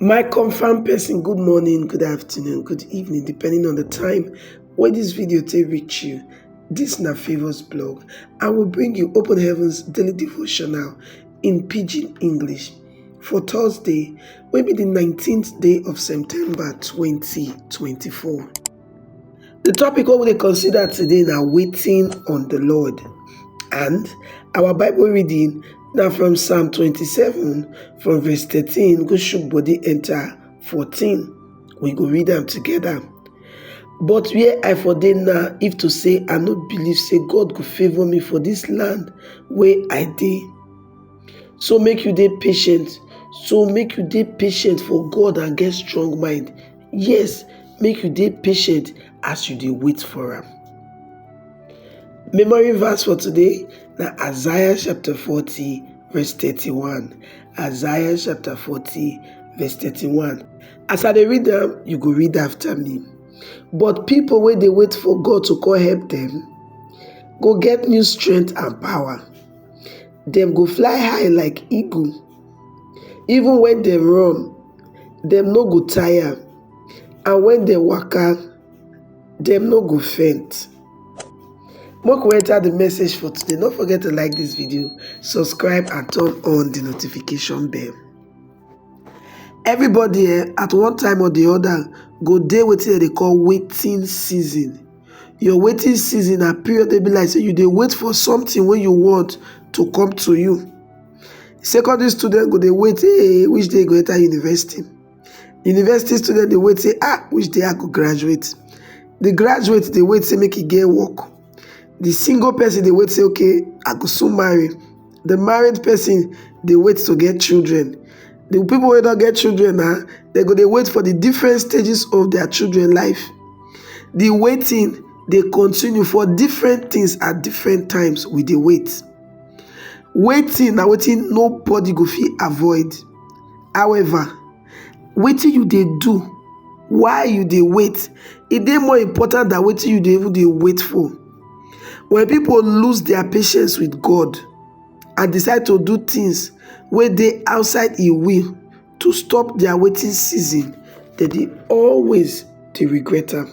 My confirm person good morning, good afternoon, good evening depending on the time wey this video take reach you. This na Favours blog. I will bring you Open Heavens Daily Devotional in Pidgin English for Thursday wey be the 19th day of September 2024. The topic what we consider today now waiting on the Lord and our Bible reading now from Psalm 27 from verse 13 go shook body enter 14. We go read them together. But where I for dey now, if to say I no believe say God go favour me for this land where I dey. So make you dey patient so make you dey patient for God and get strong mind Yes, make you dey patient as you dey wait for am. Memory verse for today na Isaiah chapter 40 verse 31. Isaiah chapter 40 verse 31. As I dey read am, you go read after me. But people wey dey wait for God to come help them go get new strength and power. Dem go fly high like eagle. Even when dem run, dem no go tire and when dem waka dem no go faint make we enter the message for today no forget to like this video subscribe and turn on the notification bell everybody eh, at one time or the other go dey wetin dem dey call waiting season your waiting season na period dey be like say you dey wait for something wey you want to come to you secondary student go dey wait hey which day you go enter university university student dey wait say ah which day i go graduate the graduate dey wait say make e get work the single person dey wait say okay i go soon marry the married person dey wait to get children the people wey don get children na dem go dey wait for the different stages of their children life the waiting dey continue for different things at different times we dey wait Waiting na wetin nobody go fit avoid. However, wetin you dey do while you dey wait, e dey more important than wetin you dey even dey wait for. When people lose their patience with God and decide to do things wey dey outside im will to stop their waiting season, dem dey always dey regret am.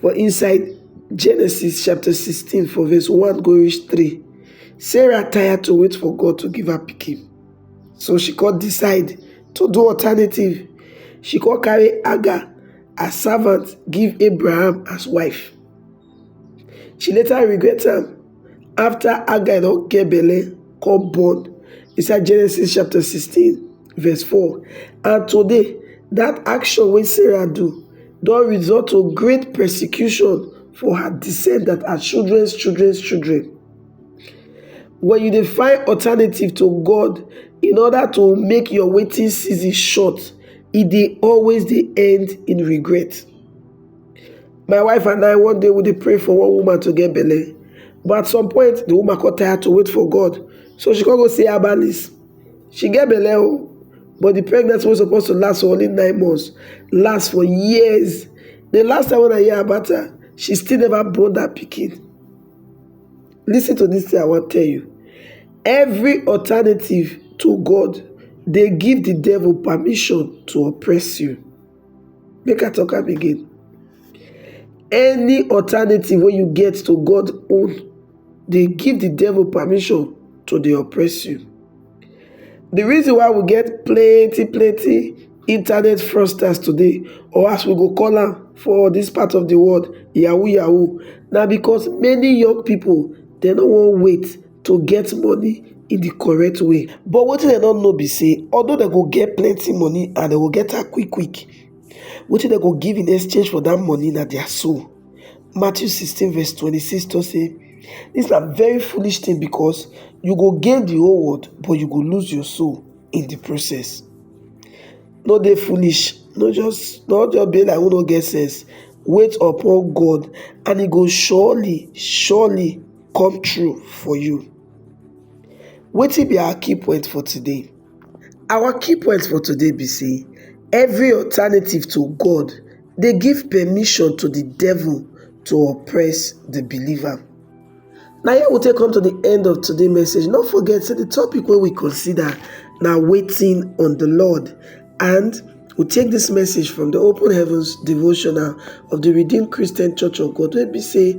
For inside Genesis chapter 16 for verse 1 go reach 3, Sarah tired to wait for God to give her pikin. So she come decide to do alternative. She come carry Hagar as servant give Abraham as wife. She later regret am after Hagar don get belle come born inside Genesis chapter 16 Verse 4 And today, that action wey Sarah do don result to great persecution for her descendants and children's children's children. When you dey find alternative to God in order to make your waiting season short, e dey always dey end in regret. My wife and I, one day we dey pray for one woman to get belle, but at some point, the woman come tired to wait for God, so she come go see herbalist. she get belle oh but the pregnancy wey suppose to last for only nine months last for years the last time when I hear about her she still never born that pikin listen to this thing I wan tell you every alternative to God dey give the devil permission to oppress you Make I talk am again. Any alternative wey you get to God own dey give the devil permission to dey oppress you. The reason why we get plenty plenty internet fraudsters today or as we go call am for this part of the world yahoo yahoo na because many young people dem no wan wait to get money in the correct way but wetin dem no know be say although dem go get plenty money and dem go get am quick quick wetin dem go give in exchange for that money na their soul matthew 16 verse 26 talk say this na very foolish thing because you go gain the whole world but you go lose your soul in the process no dey foolish no just no just be like who no get sense wait upon god and he go surely surely come true for you. Wetin be our key point for today? Our key point for today be say every alternative to God dey give permission to the devil to oppress the believer. Na here we take come to the end of today message. No forget say the topic wey we consider na waiting on the Lord and we take this message from the Open Heavens devotional of the Redeemed Christian Church of God wey be say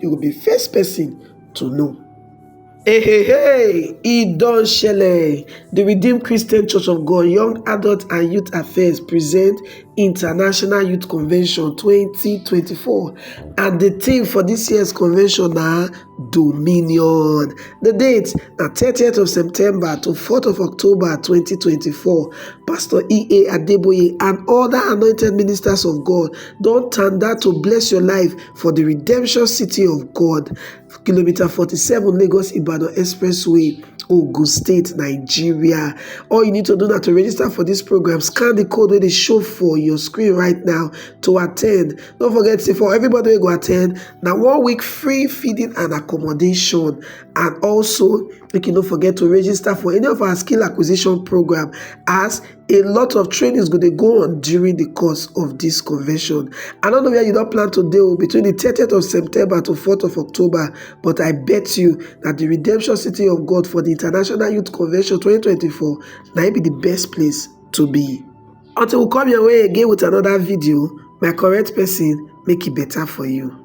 you go be first person to know. Hey, hey, hey, e don shele! The Redeemed Christian Church of God Young Adult and Youth Affairs present International Youth Convention 2024 and the theme for this year's convention na Dominion. The date na 30th of September to 4th of October 2024. Pastor E.A. Adeboye and other anointed ministers of God don tanda to bless your life for di redemption city of god kilometer forty seven lagos ibadan expressway ogun state nigeria all you need to do na to register for dis program scan di code wey dey show for your screen right now to attend no forget say for everybody wey go attend na one week free feeding and accommodation and also make you no forget to register for any of our skill acquisition program as a lot of trainings go dey go on during the course of this convention. I don't know where you don't plan to deal oh, between the 30th of September to 4th of October, but I bet you that the Redemption City of God for the International Youth Convention 2024 might be the best place to be. Until we come your way again with another video, my correct person make it better for you.